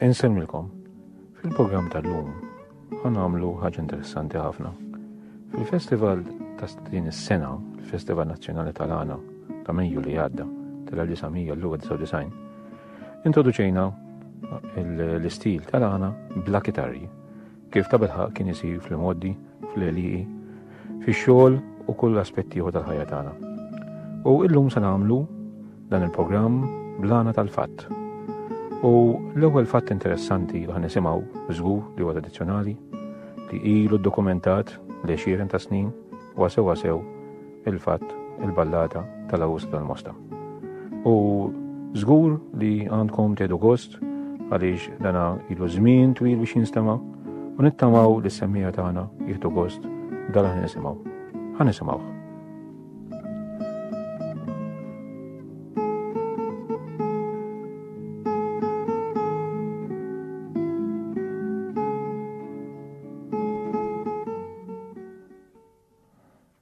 Insemmilkom, fil-programm tal-lum għan għamlu ħaġa interessanti ħafna. Fil-festival ta' din is-sena, il-Festival Nazzjonali tal-Għana ta' Mejju li għadda tal-1999, introduċejna l-istil tal-għana bla kitarri Kif ta' bilħaq kien isir fl-imgħoddi, fl-eliqi, fix-xogħol u kull aspett ieħor tal-ħajja tagħna. U illum se nagħmlu dan il-programm blana tal-fatt. U l-ewwel fatt interessanti li nisimgħu żgur li huwa tradizzjonali li ilu dokumentat li xieren ta' snin wa sew il-fatt il-ballata tal-Awust tal-Mosta. U żgur li għandkom tedu gost għaliex dana ilu żmien twil biex jinstema' u nittamaw li s-semmija tagħna jieħdu gost dal ħan nisimgħu. Ħan nisimgħu.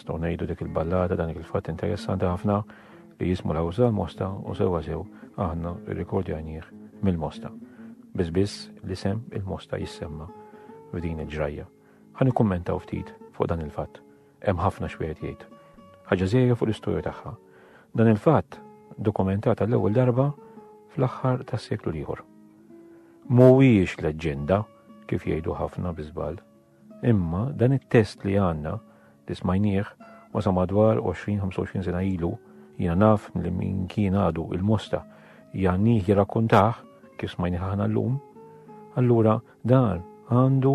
nistgħu ngħidu dik il-ballata dan il-fatt interessanti ħafna li jismu l għawża l-mosta u sewa sew aħna rrikordjanjih mill-mosta. Biss biss li sem il-mosta jissemma f'din il-ġrajja. Ħani kummentaw ftit fuq dan il-fatt. Hemm ħafna x'wieħed jgħid. Ħaġa żejra fuq l-istorja tagħha. Dan il-fatt dokumentata l-ewwel darba fl-aħħar tas-seklu ieħor. Mhuwiex leġġenda kif jgħidu ħafna biżbal. Imma dan it-test li għandna li smajnieh wasa madwar 20-25 sena ilu jina naf li min kien għadu il-mosta jannih jirrakkuntaħ kif smajni ħana l-lum, allura Dan għandu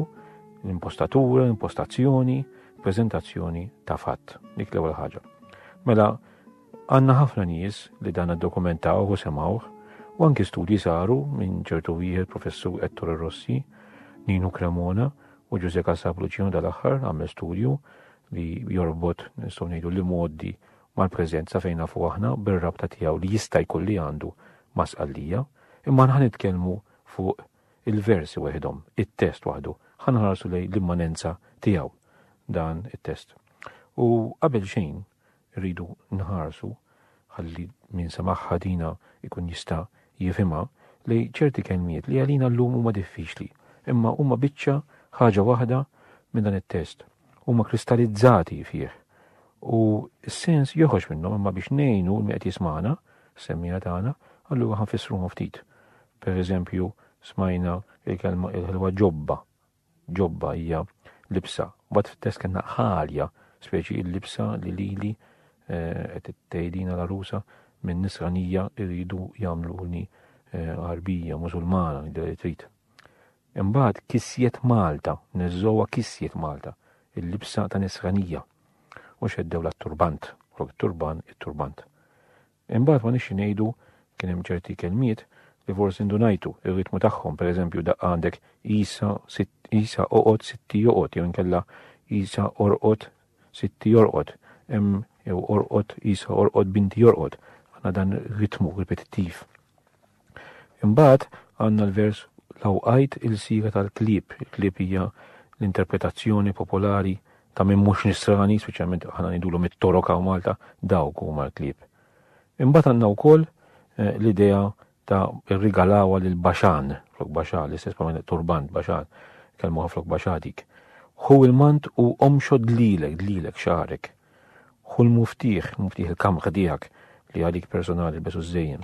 l-impostatura, l-impostazzjoni, prezentazzjoni ta' fatt, dik l-ewwel ħaġa. Mela, għanna ħafna nies li dan dokumentaw u semawh, u anki studji saru minn ċertu wieħed professur Ettore Rossi, Ninu Cremona u Ġuże Kassab Luċino dal-aħħar għamel studju li jorbot nistgħu ngħidu li modi mal-preżenza fejn nafu aħna bir-rabta tiegħu li jista' jkun li għandu masqallija, imma nħan nitkellmu fuq il-versi weħidhom, it-test waħdu, ħa nħarsu lejn l-immanenza tiegħu dan it-test. U qabel xejn rridu nħarsu ħalli min samaħħa dina ikun jista' jifhimha li ċerti kelmiet li għalina llum huma diffiċli, imma huma biċċa ħaġa waħda minn dan it-test. Huma kristallizzati fih. U s-sens joħroġ minnhom imma biex ngħinu l qed jismana, semmija tagħna, allura ħanfissruhom ftit. Per eżempju, smajna il-kelma il-ħelwa ġobba. Ġobba hija libsa. Bat fit-test kellna ħalja, speċi il-libsa li lili eh, qed tgħidina l-arusa minn nisranija irridu jagħmluni eh, Arbija, Musulmana, li trid. Imbagħad kisjet Malta, neżżowa kisjet Malta, il-libsa ta' nisranija. U xeddew la turbant, flok turbant, it-turbant. Imbagħad ma nixxi ngħidu, kien hemm ċerti kelmiet li forsi ndunajtu r-ritmu tagħhom, pereżempju daqqa għandek Għisa, Għisa oqgħod, Sitti joqgħod jew inkella Għisa orqod, Sitti jorqod, hemm jew orqod, Għisa orqod, Binti jorqod. Għandna dan ritmu ripetittiv. Imbagħad għandna l-vers Lawqajt il-siegħa tal-klieb, il-klieb hija l-interpretazzjoni popolari ta' min mhux nisrani, speċjalment aħna ngħidulhom it-torok hawn Malta, dawk huma l-klieb. Imbagħad għandna wkoll eh, l-idea ta' irrigalawa lil baxan, flok baxa, l-istess ma' turbant baxan, kelmu flok baxadik. Hu il-mant u omxo dlilek, dlilek xarek. Hu l-muftiħ, muftiħ il-kamħ dijak li għalik personali besu zzejjen.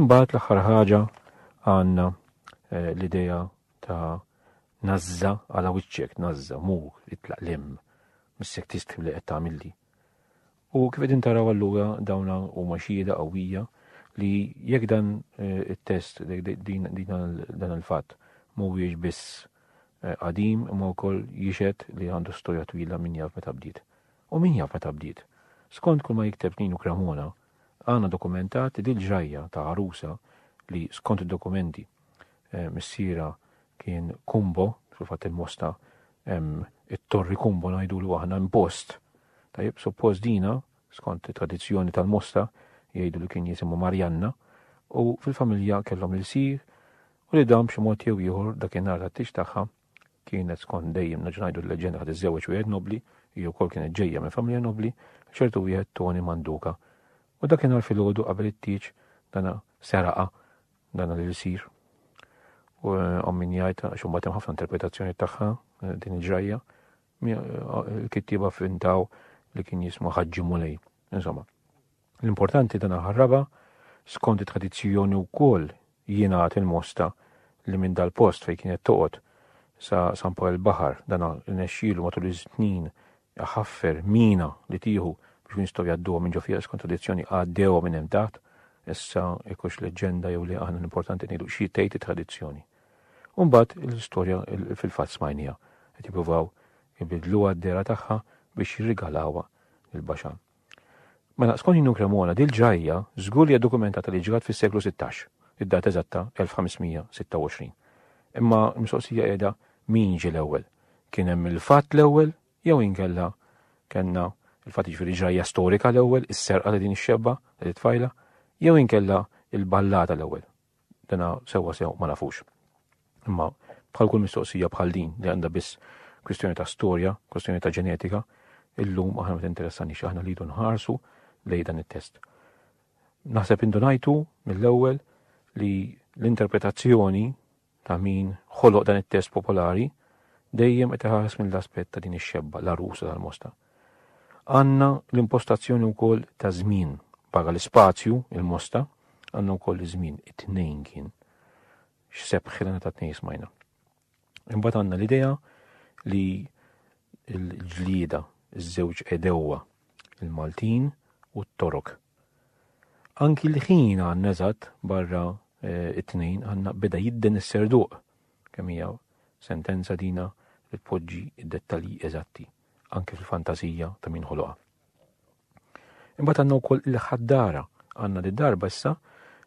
Imbagħad l-aħħar ħaġa għandna eh, l-idea ta' nazza għala wiċċek, nazza, mur, itlaq lem, missek tistħu li qed tagħmilli. U kif qegħdin taraw allura dawna huma xhieda qawwija li jekk dan eh, it-test din dan il-fatt mhuwiex biss eh, qadim imma wkoll jixed li għandu storja twila min jaf meta bdiet. U min jaf meta bdiet. Skont kull ma jikteb Ninu Kramona, Għandna dokumentat li dil-ġrajja ta' għarusa li skont id-dokumenti missierha kien Kumbo, fil-fatt il-Mosta hemm it-Torri Kumbo ngħidulu aħna hemm post, tajjeb, suppost dina skont it-tradizzjoni tal-Mosta jgħidu li kien jisimha Marjanna u fil-familja kellhom ilsir u li dan b'xi mod jew ieħor dakinhar tat-tix tagħha kienet skont dejjem nerġa' ngħidu l-leġenda ħad iżżewweġ wieħed nobbli, hi wkoll kienet ġejja minn familja nobbli, ċertu wieħed Toni Manduka. U dakinhar filgħodu qabel it-tieġ dana seraqa dana li jsir. U eh, ommin jgħid għax imbagħad hemm ħafna interpretazzjoni tagħha eh, din il-ġrajja. Eh, il-kittieba fintaw li kien jismu Ħaġġi Mulej. Insomma, L-importanti ta' naħa r-raba', skont it-tradizzjoni wkoll jingħad il-Mosta li minn dal-post fejn kienet toqgħod sa San Pawl il-Baħar dan rnexxielu matul is-snin iħaffer mina li tieħu biex ikun jistgħu jgħadduha minn ġo fiha skont tradizzjoni għaddewha minn hemm taħt. Issa jekk hux leġġenda jew le aħna l-importanti ngħidu xi tgħid it-tradizzjoni. U mbagħad l-istorja fil-fatt smajniha qed jippruvaw ibidluha d-dehra tagħha biex jirrigalawha lil Baxan. Mela, skont Nino Cremona, dil-ġrajja żgur li hija dokumentata li ġrat fis-seklu sittax, id-data eżatta 1526. Imma l-mistoqsija qiegħda min ġie l-ewwel? Kien hemm il-fatt l-ewwel jew inkella kellna il-fatt jiġifieri ġrajja storika l-ewwel, is-serqa ta' din ix-xebba, ta' dit-tfajla, jew inkella l-ballata l-ewwel? Dana sewwa sew ma nafux. Imma bħal kull mistoqsija bħal din li għandha biss kwistjoni ta' storja, kwistjoni ta' ġenetika, illum aħna ma tinteressanix aħna li nħarsu lej dan it-test. Naħseb indunajtu mill-ewwel li l-interpretazzjoni ta' min ħoloq dan it-test popolari dejjem qed iħares mill-aspett ta' din ix-xebba l-arusa tal-mosta. Għandna l-impostazzjoni wkoll ta' żmien. Barra l-ispazju, il-mosta, għandna wkoll iż-żmien, it-tnejn kien. X'sebħ ħilena ta' tnejn smajna. Imbagħad għandna l-idea li l-ġlieda, iż-żewġ edewwa, il-Maltin u t-Torok. Anki l-ħin għandna eżatt barra eh, it-tnejn għandna beda jidden is-serduq kemm hija sentenza dina li tpoġġi d-dettalji eżatti. anke fil-fantażija ta' min ħoloqha. Imbagħad għandna wkoll il-ħaddara għandna li darba issa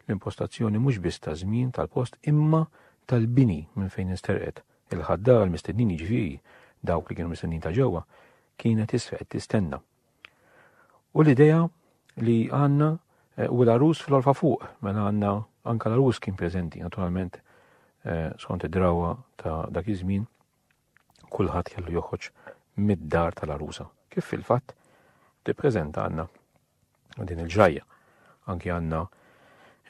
l-impostazzjoni mhux biss ta' żmien tal-post imma tal-bini minn fejn insterqet. Il-ħaddara l-mistednin jiġifieri dawk li kienu mistednin ta' ġewwa kienet issa qed tistenna. U l-idea li għandna eh, u l-arus fl-orfa fuq, mela għandna anka l-arus kien preżenti naturalment eh, skont id-drawa ta' dak iż-żmien kulħadd kellu joħroġ mid-dar tal-għarusa, kif fil-fatt tippreżenta għandna din il-ġrajja. Anki għandna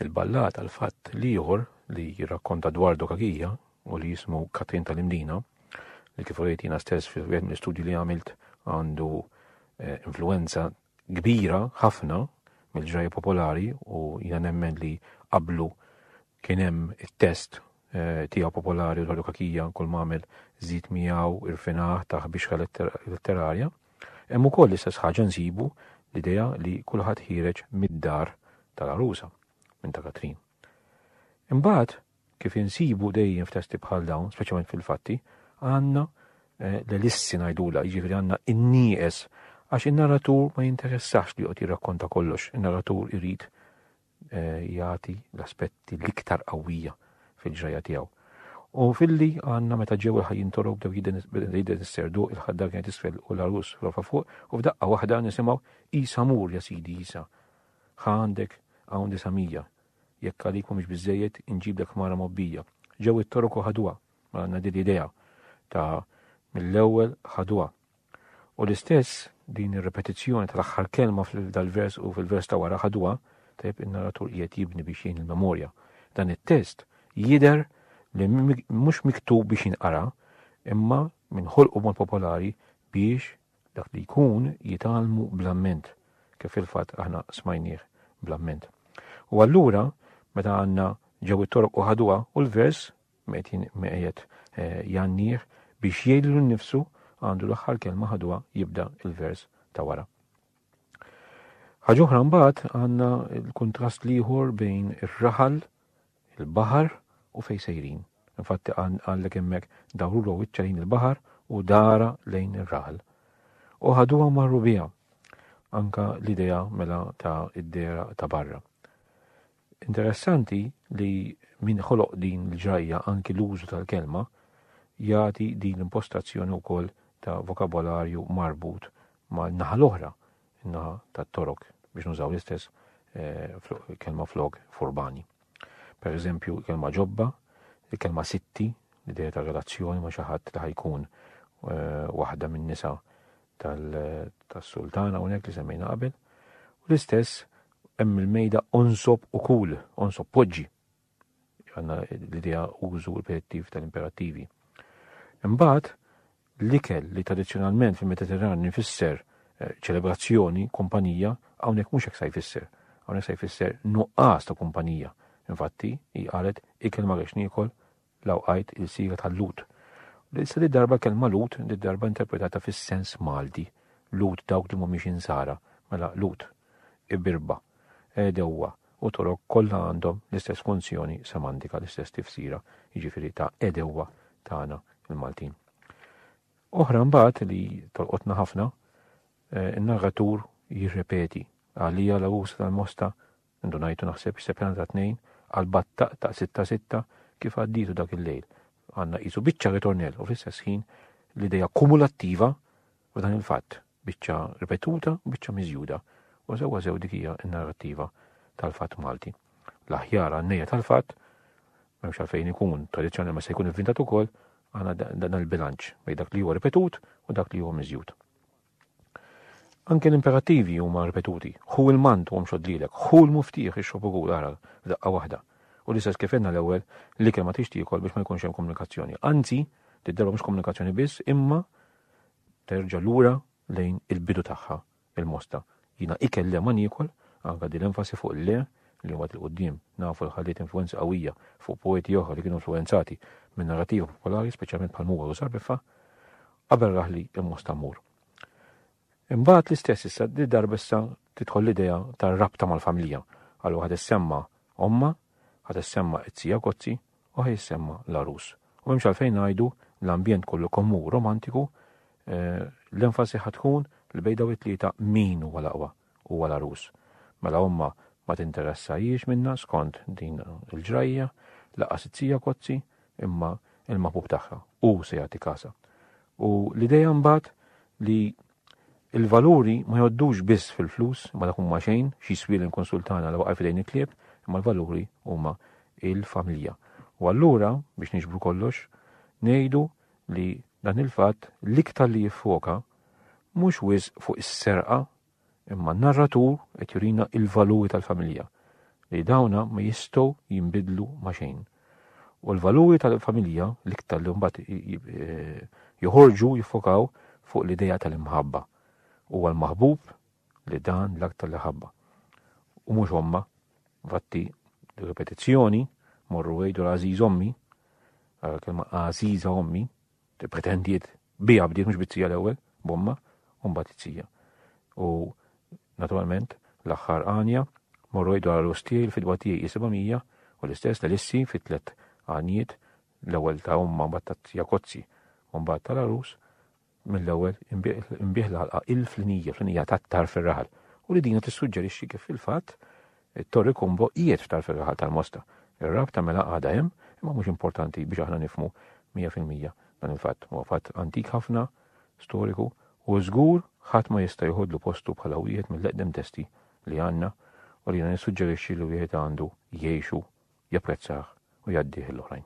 il-ballat għal fatt li ieħor li jirrakkonta dwar dokagija u li jismu Katrin tal-Imdina, li kif rejt jiena stess fi wieħed mill-istudji li għamilt għandu eh, influenza kbira ħafna mill-ġrajja popolari u jiena nemmen li qablu Kien hemm it-test tiegħu popolari u l-ħalukakija kull m'għamel żid miegħu irfinah taħ bixħa letterarja. Hemm ukoll l-istess ħaġa nsibu l-idea li kulħadd ħireġ mid-dar tal-arusa minn ta' Katrin. Imbagħad kif insibu dejjem f'testi bħal dawn, speċjalment fil-fatti, għandna eh, l-elissi ngħidula, jiġifieri għandna in-nieqes għax in-narratur ma jinteressax li qed jirrakkonta kollox, in-narratur irid jagħti l-aspetti l-iktar qawwija fil-ġrajja tiegħu. U filli għanna meta ġew il-ħajjin torow bdew jiden s-serdu il-ħadda kienet isfel u l-arus rofa fuq u f'daqqa waħda nisimaw isa mur ja sidi isa. Ħa għandek hawn disamija. Jekk għalik mhumiex biżejjed inġiblek mara mobbija. Ġew it-torok u ħadwa. Ma għandna din idea ta' mill-ewwel ħadwa. U l-istess, din ir-ripetizzjoni tal-aħħar kelma f'dal-vers u fil-vers ta' wara ħaduha, tajjeb in-narratur qiegħed jibni biex jgħin il-memorja. Dan it-test jidher li mhux miktub biex jinqara, imma minn ħolqu b'mod popolari biex dak li jkun jitgħallmu bl-amment, kif fil-fatt aħna smajnieh bl-amment. U allura, meta għandna ġew it-toroq u ħaduha u l-vers Metin meqjed jgħannih biex jgħidlu nnifsu għandu l-aħħar kelma ħaduha jibda l-vers ta' wara. Ħaġa oħra mbagħad għandna l-kuntrast l-ieħor bejn ir-raħal, il-baħar u fejn sejrin. Infatti għallek hemmhekk dawru l wiċċa lejn il-baħar u dara lejn ir-raħal. U ħaduha marru biha anka l-idea mela ta' id-dera ta' barra. Interessanti li min ħoloq din l-ġrajja anki l-użu tal-kelma jagħti din l-impostazzjoni wkoll ta' vokabolarju marbut mal-naħa l-oħra, in-naħa tat-Torok biex nużaw l-istess eh, kelma flok furbani. Per eżempju, kelma ġobba, il-kelma sitti, l-ideja ta' relazzjoni ma' xi ħadd li ħajkun eh, waħda minn nisa tal-sultana hawnhekk li semmejna qabel, u l-istess hemm il-mejda onsob u kul, onsob poġġi. Għanna l-idea użu ripetittiv tal-imperattivi. Imbagħad l-ikel li tradizzjonalment fil-Mediterran nifisser eh, ċelebrazzjoni, kumpanija, hawnhekk mhux hekk sa jfisser. Hawnhekk sa jfisser nuqqas ta' kumpanija. Infatti, hi qalet ikel ma rex niekol L-Għawdqajt, ilsira tal-Lhud. L-ilsra did-darba l-kelma Lhud, did-darba interpretata fis-sens Malti, Lhud dawk li mhumiex Insara, mela Lhud, Ibirba, Għedewwa u Torok kollha għandhom l-istess funzjoni semantika, l-istess tifsira, jiġifieri ta' għedewwa tagħna l-Maltin. Oħra mbagħad li tolqotna ħafna, in-narratur jirrepeti għalija l-għus tal-mosta Ndunajtu naħseb x'se pjanta tnejn għal battaq ta' sitta sitta kif għaddietu dak il-lejl. Għandna qisu biċċa ritornell u fl-istess ħin l-idea kumulattiva f'dan il-fatt, biċċa ripetuta u biċċa miżjuda. U sewwa sew dik hija n-narrattiva tal-fatt Malti. L-aħjar għannejja tal-fatt memx għalfejn ikun tradizjonali ma se jkun inventat ukoll għana dan il-bilanċ bej dak li huwa ripetut u dak li huwa miżjud. Anke l-imperattivi huma ripetuti, Ħu l-mant u omxod lilek, ħu l-muftieħ ixrob u kul għargħar f'daqqa waħda. U l-istess kif għedna l-ewwel, l-ikel ma tridx tiekol biex ma jkunx hemm komunikazzjoni. Anzi, tidderba mhux komunikazzjoni biss imma terġa' lura lejn il-bidu tagħha, il-mosta, Jiena ikel le ma niekol, anke din l-enfasi fuq il-le, li mbagħad 'il quddiem nafu li ħalliet influwenza qawwija fuq poeti oħra li kienu influwenzati min-narrattiva popolari, speċjalment bħal Mugħor u Sarbiffa, qabel raħli imma sta mmur. Imbagħad l-istess issa di darba issa tidħol l-idea tar-rabta mal-familja, għal waħda ssemma' ommha, ħadd issemma' it-tija Gozzi, u ħa jissemma l-għarus. U m'hemmx għalfejn ngħidu l-ambjent kollu kemm hu romantiku, l-enfasi ħa tkun li bejn dawn it-tlieta min huwa l-aqwa, huwa l-għarus. Mela omma ma tinteressahiex minnha skont din il-ġrajja, lanqas it-tija Kozzi, imma il-maħbub tagħha, hu se jagħti kasha. U l-idea mbagħad li Il-valuri ma jgħoddux biss fil-flus, imma dak huma xejn, x'jiswieli nkunsul tagħna li waqa' f'idejn il-klieb, imma l-valuri huma l-familja. U allura, biex niġbru kollox, ngħidu li dan il-fatt l-iktar li jiffoka mhux wisq fuq is-serqa, imma n-narratur qed jurina l-valuri tal-familja, li dawna ma jistgħu jinbidlu ma' xejn. U l-valuri tal-familja l-iktar li mbagħad joħorġu jiffokaw fuq l-idea tal-imħabba. Huwa l-maħbub li dan l-aktar li ħabba. U mhux omma, vatti ripetizzjoni, morru għejdu l-għażiż ommi, kelma għażiża ommi, Pretendiet biha bdiet mhux bizzija l-ewwel, b'omma, u mbagħad izzija. U naturalment l-aħħar għanja morru jgħidu għal Ustiel fidwa tiegħi 700 u l-istess l-Elissi fit-tlet għanjiet l-ewwel ta' omma mbagħad ta' tija Kozzi u mbagħad tal-arus mill-ewwel imbieħ l-ħalqa il-flinija, flinija tat-tar fir-raħal. U li dina tissuġġerixxi kif fil-fatt It-Torri Combo qiegħed tal-fergħa ħa tal-Mosta. Ir-rabta mela għadha hemm, imma mhux importanti biex aħna nifhmu mija fil-mija dan il-fatt. Huwa fatt antik ħafna, storiku, u żgur ħadd ma jista' joħodlu postu bħala wieħed mill-eqdem testi li għandna u li jiena nissuġġerixxi li wieħed għandu jgħixu, japprezzah u jgħaddih lill-oħrajn.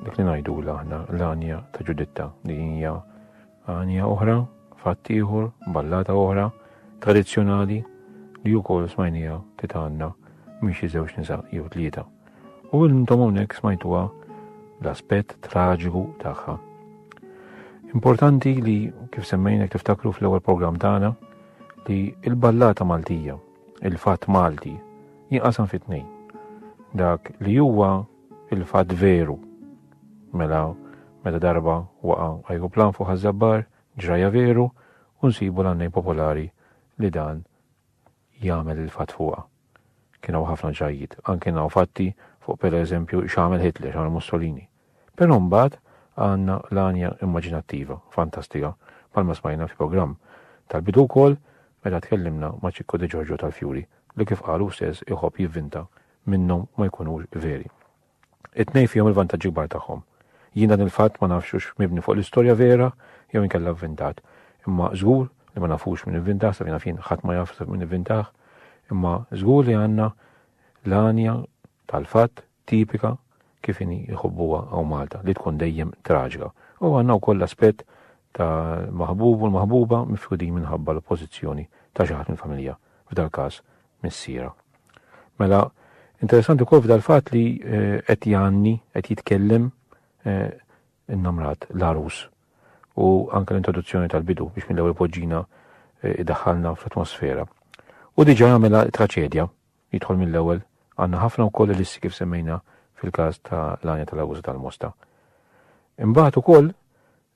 Dik li ngħidula aħna l-għanja ta' Ġuditta li hija għanja oħra, fatt ieħor, ballata oħra, tradizzjonali li wkoll smajnija titanna mhix iżewġ nisa jew tlieta. U intom hawnhekk smajtuha l-aspett traġiku tagħha. Importanti li kif semmejnek tiftakru fl-ewwel programm tagħna li l-ballata Maltija, il-fatt Malti, jinqasam fit-tnejn. Dak li huwa Il-fatt veru. Mela, meta darba waqa' ajruplan fuq Ħaż-Żabbar, ġrajja veru u nsibu l-għannejn popolari li dan jagħmel il-fatt fuqha. Kien hawn ħafna ġrajjiet, anke hawn fatti fuq pereżempju x'għamel Hitler, x'għamel Mussolini. Però mbagħad għandna l-għanja immaġinattiva, fantastika, bħalma smajna fil-programm tal-bidu wkoll meta tkellimna ma' Ċikku De Ġorġo tal-Fjuri li kif qal hu stess iħobb jivvinta minnhom ma jkunux veri. It-tnejn fihom il-vantaġġi kbar tagħhom. Jien dan il-fatt ma nafx hux mibni fuq l-istorja vera jew inkella vvintat, imma żgur li ma nafux min ivvintah, sa fejn naf jien ħadd ma jaf sa min ivvintah, imma żgur li għandna l-għanja tal-fatt tipika kif inhi jħobbuha hawn Malta li tkun dejjem traġika. U għandna wkoll l-aspett tal-maħbub u l-maħbuba mifrudin minħabba l-oppożizzjoni ta' xi ħadd mill-familja, f'dal-każ missiera. Mela, interessanti wkoll f'dal-fatt li eh, qed jgħanni, qed jitkellem eh, innamrat l-arus u anke l-introduzzjoni tal-bidu biex mill-ewwel poġġina eh, idaħħalna fl-atmosfera. U diġà jagħmilha traċedja jidħol mill-ewwel għandna ħafna wkoll l-issi kif semmejna fil-każ ta' l-għanja tal-awuż tal-mosta. Imbagħad ukoll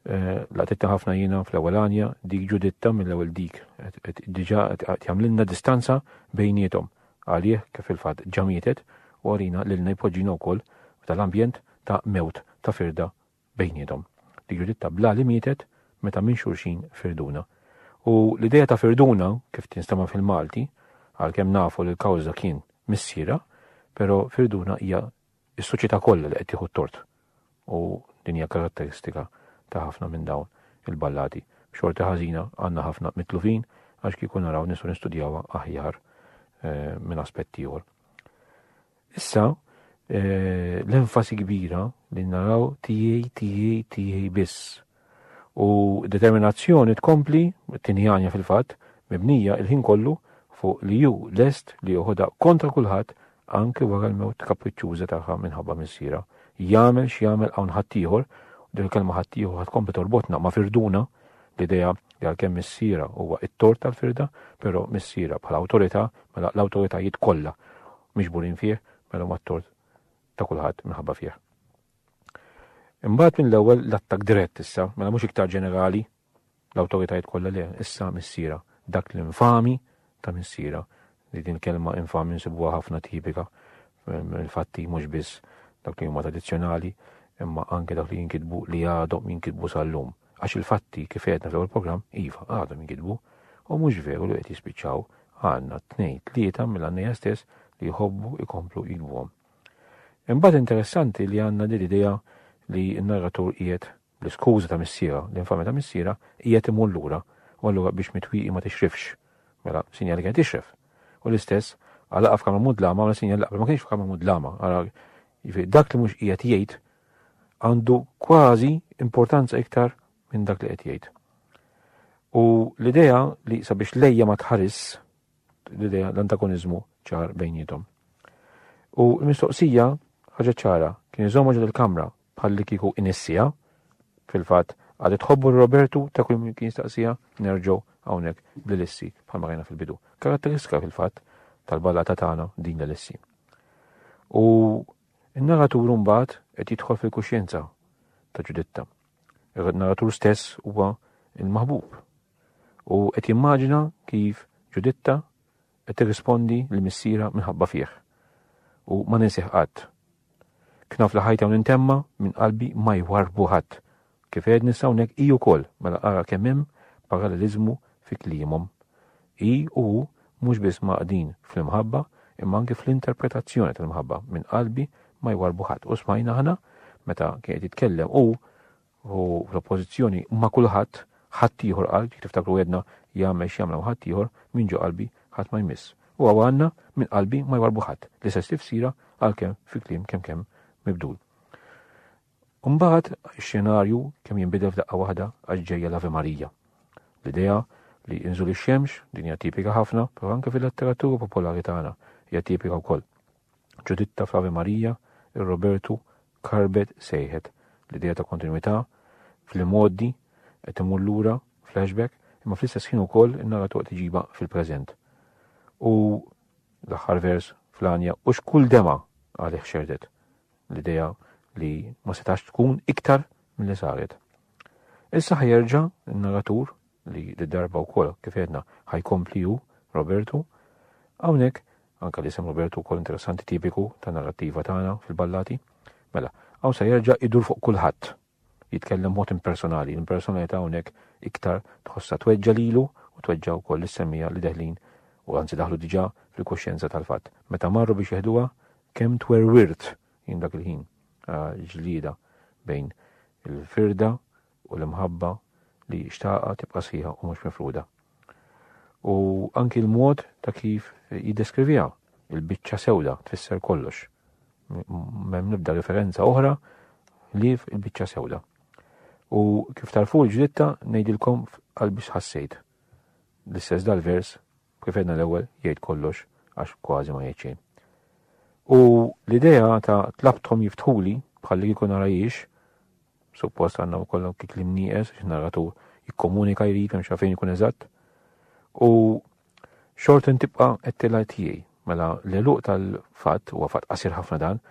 Laqtitta ħafna jiena fl-ewwel għanja, dik Ġuditta mill-ewwel dik qed diġà qed jagħmlilna distanza bejniethom għalih kif fil-fatt ġa mietet u għalina lilna jpoġġina wkoll f'dan l-ambjent ta' mewt ta' firda bejniethom. Dik Ġuditta bla li mietet meta minn xulxin firduna. U l-idea ta' firduna kif tinstema' fil-Malti, għalkemm nafu li l-kawża kien missierha, però firduna hija Is-soċjetà kollha li qed tieħu t-tort u din hija karatteristika ta' ħafna minn dawn il-ballati. B'xorti ħażina għandna ħafna mitlufin għax kieku naraw nistgħu nistudjawha aħjar minn aspett ieħor. Issa l-enfasi kbira li naraw tiegħi, tiegħi, tiegħi biss. u determinazzjoni tkompli, it-tieni għanja fil-fatt, mibnija il-ħin kollu fuq li hu lest li joħodha kontra kulħadd anki wara l-mewt kapriċċuża tagħha minħabba missierha. Jagħmel x'jagħmel hawn ħaddieħor, u din il-kelma ħaddieħor ħadd kompli torbotna ma' firduna, l-idea li għalkemm missierha huwa t-tort tal-firda, però missierha bħala awtorità, mela l-awtoritajiet kollha miġburin fih, mela mat-tort ta' kulħadd minħabba fih. Imbagħad mill-ewwel l-attakk dirett issa, mela mhux iktar ġenerali, l-awtoritajiet kollha le, issa missiera, dak l-infami ta' missiera, li din kelma infami nsibuha ħafna tipika mill-fatti mhux biss dak li huma tradizzjonali, imma anke dak li jinkitbu li għadhom jinkitbu sal-lum. Għax il-fatti kif għedna fl-ewwel programm, iva, għadhom jinkitbu, u mhux veru li qed jispiċċaw għandna tnejn tlieta mill-għannejja stess li jħobbu jkomplu jikbuhom. Imbagħad interessanti li għandna din l-idea li n-narratur qiegħed, bl-iskuża ta' missierha, l-infamja ta' missierha, qiegħed imur lura, u allura biex mitwieqi ma tixrifx. Mela, sinjal li kienet tixref. U l-istess, ara laqgħa f'kamra mudlama, mela sinjal li qabel ma kienx f'kamra mudlama, ara, jiġifieri dak li mhux qiegħed jgħid għandu kważi importanza iktar minn dak li qed jgħid. U l-idea li sabiex lejja ma tħaris, l-idea l-antagonizmu ċar bejnietom. U l-mistoqsija ħaġa ċara kien iżomma ġod il-kamra bħal li kieku inissija fil-fatt għad tħobbu Robertu ta' kull min kien staqsija nerġgħu hawnhekk bl-lissi bħal ma fil-bidu. Karatteristika fil-fatt tal-ballata tagħna din l-lissi. U n-narratur mbagħad qed jidħol fil-kuxjenza ta' ġuditta. Il-narratur stess huwa il-maħbub u qed jimmaġina kif Ġuditta qed tirrispondi lil missierha minħabba fih. U ma ninsih qatt. Knaf li ħajta u nintemma minn qalbi ma jwarrbu ħadd. Kif għedt nissa hawnhekk hi wkoll mela ara kemm hemm paralleliżmu fi kliemhom. Hi u hu mhux biss mgħaqqdin fl-imħabba imma anki fl-interpretazzjoni tal-imħabba minn qalbi ma jwarrbu ħadd. U smajna aħna meta kien qed jitkellem hu u fl-oppożizzjoni ma' kulħadd, ħaddieħor qalb, jekk tiftakru għedna jagħmel x'jagħmlu ħaddieħor, minn ġo qalbi ħadd ma jmiss. U hawn għandna minn qalbi ma jwarrbu ħadd, l-istess tifsira għalkemm fi kliem kemm kemm mibdul. Umbagħad x-xenarju kemm jinbidel f'daqqa waħda għax ġejja l-Ave Marija. L-idea li inżul ix-xemx din hija tipika ħafna, però anke fil-letteratura popolari tagħna hija tipika wkoll. Ġuditta fl-Ave Maria, ir-Robertu karbet sejħet l-idea ta' kontinwità fl-imgħoddi qed imur lura, flashback, imma fl-istess ħin ukoll in-narratur qed iġibha fil-preżent. U l-aħħar vers fl-għanja u x'kull dema għalih xerdet l-idea li ma setax tkun iktar mill-li saret. Issa ħajerġa n-narratur li d-darba u kol kifedna ħajkompli ju, Robertu, għawnek Anke l-isem Robertu wkoll interessanti tipiku tan-narrattiva tagħna fil-ballati. Mela, hawn se jerġa' idur fuq kulħadd. Jitkellem b'mod impersonali, l-impersonalità hawnhekk iktar tħossha tweġġa' lilu u tweġġa' wkoll lis-semmiegħa li deħlin u anzi daħlu diġà fil-kuxjenza tal-fatt. Meta marru biex jeħduha, kemm twerwirt jien dak il-ħin ġlieda bejn il-firda u l-imħabba li xtaqha tibqa' sħiħa u mhux mifruda. U anki l-mod ta' kif jiddeskriviha, il-biċċa sewda tfisser kollox. M'hemm nibda referenza oħra li il-biċċa sewda. U kif tarfu l-ġditta ngħidilkom qalbi x'ħassejt. L-istess dal-vers Kif għedna l-ewwel, jgħid kollox għax kważi ma jgħid xejn. U l-idea ta' tlabthom jiftħuli bħalli kieku nara jiex, suppost għandna wkoll kik li mnieqes għax narratur jikkomunika jrid hemm xafejn ikun eżatt. U xorta tibqa' qed tilgħid tiegħi mela l-eluq tal-fatt huwa fatt qasir ħafna dan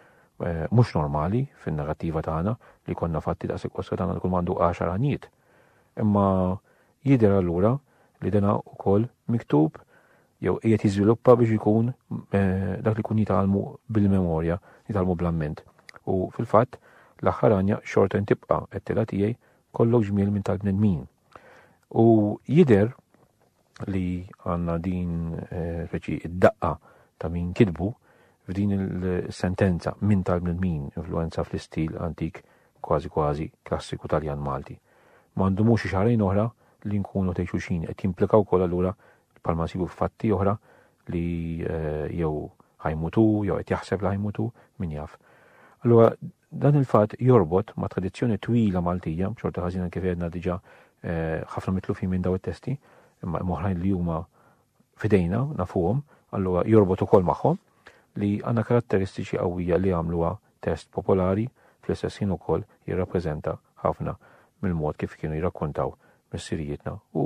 Eh, mhux normali fin-narrattiva tagħna li konna fatti ta' sekkossa tagħna li kull mandu 10 għanijiet. Imma Jidher allura li dan ukoll miktub jew qiegħed jiżviluppa biex ikun dak li jkun jitgħallmu bil-memorja, jitgħallmu bl-amment. U fil-fatt, l-aħħar għanja xorta intibqa' qed tiegħi kollok ġmiel minn tal-bnedmin. U jidher li għandna din reċi id-daqqa ta' min kitbu f'din il-sentenza minn tal-bnedmin influenza fl-istil antik kważi kważi klassiku Taljan-Malti. Ma ndumux xi xahrejn oħra li nkunu tgħid xulxin qed jimplika wkoll allura bħalma nsibu f'fatti oħra li jew ħa jmut hu jew qed jaħseb li ħa jmut hu, min jaf. Allura dan il-fatt jorbot ma' tradizzjoni twila Maltija, b'xorta ħażina kif għedna diġà ħafna mitlufin minn daw it-testi, imma oħrajn li huma f'idejna, nafuhom, allura jorbot ukoll magħhom li għandna karatteristiċi qawwija li jagħmluha test popolari, fl-istess ħin ukoll jirrappreżenta ħafna mill-mod kif kienu jirrakkontaw missirijietna u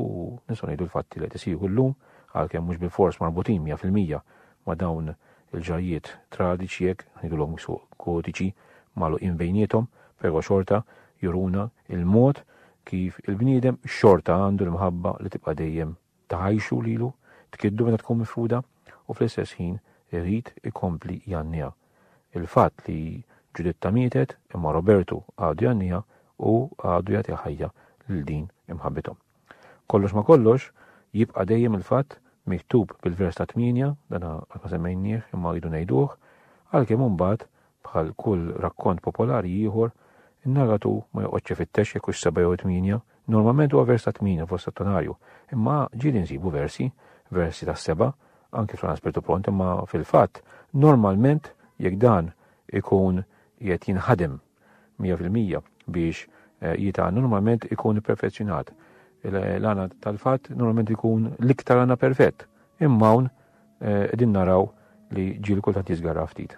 nistgħu ngħidu l-fatti li qed isiru llum, għalkemm mhux bilfors marbutin mija fil-mija ma' dawn il-ġrajjiet tradiċi jekk ngħidulhom suq kodiċi magħluqin bejniethom, però xorta juruna il-mod kif il-bniedem xorta għandu l-mħabba li tibqa' dejjem tgħajjxu lilu, tkiddu meta tkun mifruda u fl-istess ħin irid ikompli jgħanniha. Il-fatt li Ġuditta mietet imma Robertu għadu jgħanniha u għadu jagħti ħajja lil din imħabbithom. Kollox ma' kollox, jibqa' dejjem il-fatt miktub bil-vers ta' tmienja, dan qatt ma semmejnieh imma rridu ngħiduh, għalkemm imbagħad Bħal kull rakkont popolari ieħor, in-narratur ma joqgħodx ifittex jekk hux seba' jew tmienja, normalment huwa vers ta' tmienja fost settonarju, imma ġieli nsibu versi, versi tas-seba', anki fl-Għan Spirtu Pront, imma fil-fatt, normalment, jekk dan ikun qiegħed jinħadem mija fil-mija biex jitgħan, normalment ikun ipperfezzjonat. L-għana tal-fatt normalment ikun l-iktar għana perfett, imma hawn qegħdin naraw li ġiel kultant jiżgarra ftit.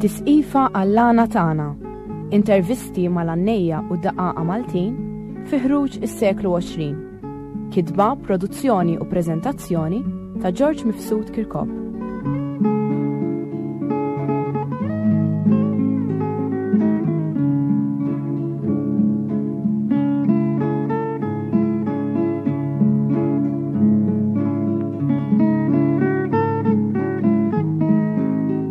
Tisqifa għall-għana tagħna, intervisti mal-għannejja u daqaqa Maltin fi ħruġ is-seklu 20. Kitba, produzzjoni u preżentazzjoni ta' George Mifsud Kirkop.